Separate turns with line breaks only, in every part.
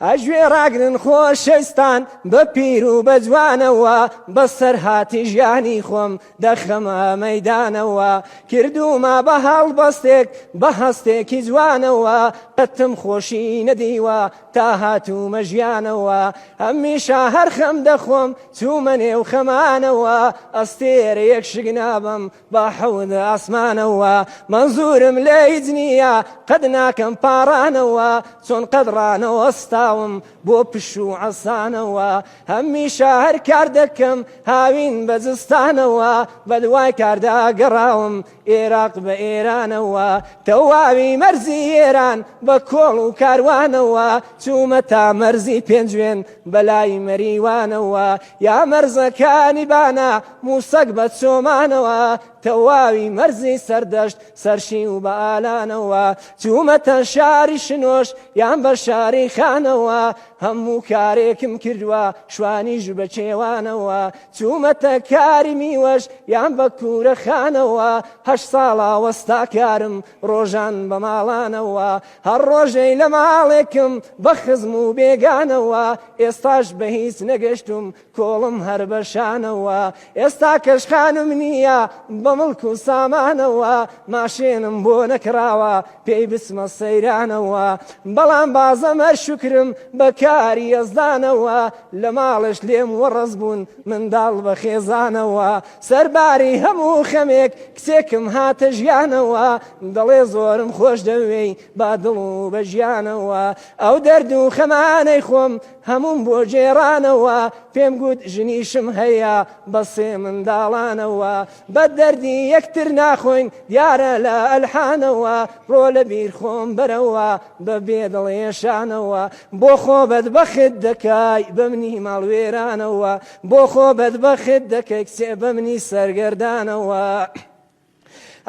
ئەژوێ ڕاگرن خۆشەویستان بە پیر و بە جوانەوە بەسەرهاتی ژیانی خۆم دەخەمە مەدانەوە کردومە بە هەڵبەستێک بە هەستێکی جوانەوە قەتم خۆشی نەدیوە تا هاتوومە ژیانەوە هەمیشە هەرخەم دەخۆم چوومە نێو خەمانەوە ئەستێرەیەک شگنابم با حەوت ئاسمانەوە مەنزورم لێ هیچ نییە قەد ناکەم پاڕانەوە چۆن قەد ڕانەوەستاوم بۆ پش و عەسانەوە هەمیشە هەر کار دەکەم هاوین بە زستانەوە بە دوای کاردا گەڕاوم ئێراق بە ئێرانەوە تەواوی مەرزی ئێران بە کۆڵ و کاروانەوە چوومە تا مەرزی پێنجوێن بەلای مەریوانەوە یا مەرزەکانی بانە موسەک بە چۆمانەوە تەواوی مەرزی سەردەشت سەرشی و بە ئالانەوە چوومەتە شاری شنۆش یان بە شاری خانەوە هەموو کارێکم کردووە شوانی ژ بە کێوانەوە چوومەتە کاری میوەش یان بە کورە خانەوە هەش ساڵا وەستا کارم ڕۆژان بە ماڵانەوە هەر ڕۆژەی لە ماڵێکم بە خزم و بێگانەوە ئێستاش بە هیچ نەگەشتم کۆڵم هەر بە شانەوە ئێستا کەش خانم نییە بە مڵک و سامانەوە ماشێنم بۆ نەکراوە پێی بچمە سەیرانەوە بەڵام بازەم هەر شکرم بە کاری یەزدانەوە لە ماڵش لێم وەڕز بوون منداڵ بە خێزانەوە سەرباری هەموو خەمێک کچێکم هاتە ژیانەوە دەڵێ زۆرم خۆش دەوێی با دڵ و بە ژیانەوە ئەو دەرد و خەمانەی خۆم هەموم بۆ جێرانەوە پێم گوت ژنیشم هەیە بە سێ منداڵانەوە بە دەردی یەکتر ناخۆین دیارە لە ئەلحانەوە ڕۆ لە بیر خۆم بەرەوە بە بێ دڵێشانەوە بۆ خۆ بەدبەخت دەکای بەمنی ماڵ وێرانەوە بۆ خۆ بەدبەخت دەکەی کچێ بە منی سەرگەردانەوە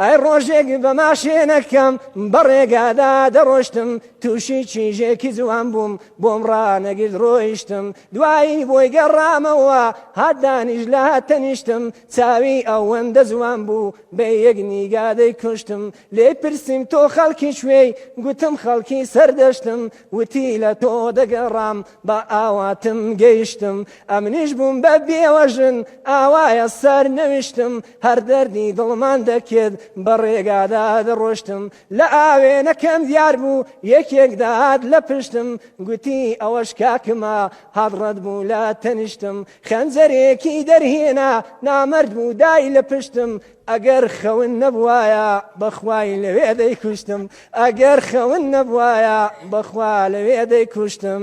ئای ڕۆژێک بە ماشێنەکەم بەڕێگادا دەڕۆشتم تووشی چیژێکی جوان بووم بۆم ڕانەگرد ڕۆیشتم دوایی بۆی گەڕامەوە هات دانیش لە هاتەنیشتم چاوی ئەوەندە جوان بوو بە یەک نیگادەی کوشتم لێ پرسیم تۆ خەڵکی شوێی گوتم خەڵکی سەردەشتم وتی لە تۆ دەگەڕام بە ئاواتم گەیشتم ئەمنیش بووم بە بێوەژن ئاوایە سەر نەویشتم هەر دەردی دڵمان دەکرد بە ڕێگادا دەڕۆشتم لە ئاوێنەکەم دیار بوو یەکێک داهات لە پشتم گوتی ئەوەش کاکمە هاڕەت بوو لە تەنیشتم خەنجەرێکی دەرهێنا نامرد بوو دای لە پشتم ئەگەر خەون نەبوایە بەخوای لەوێ دەیکوشتم ئەگەر خەون نەبوایە بەخوا لەوێ دەیکوشتم.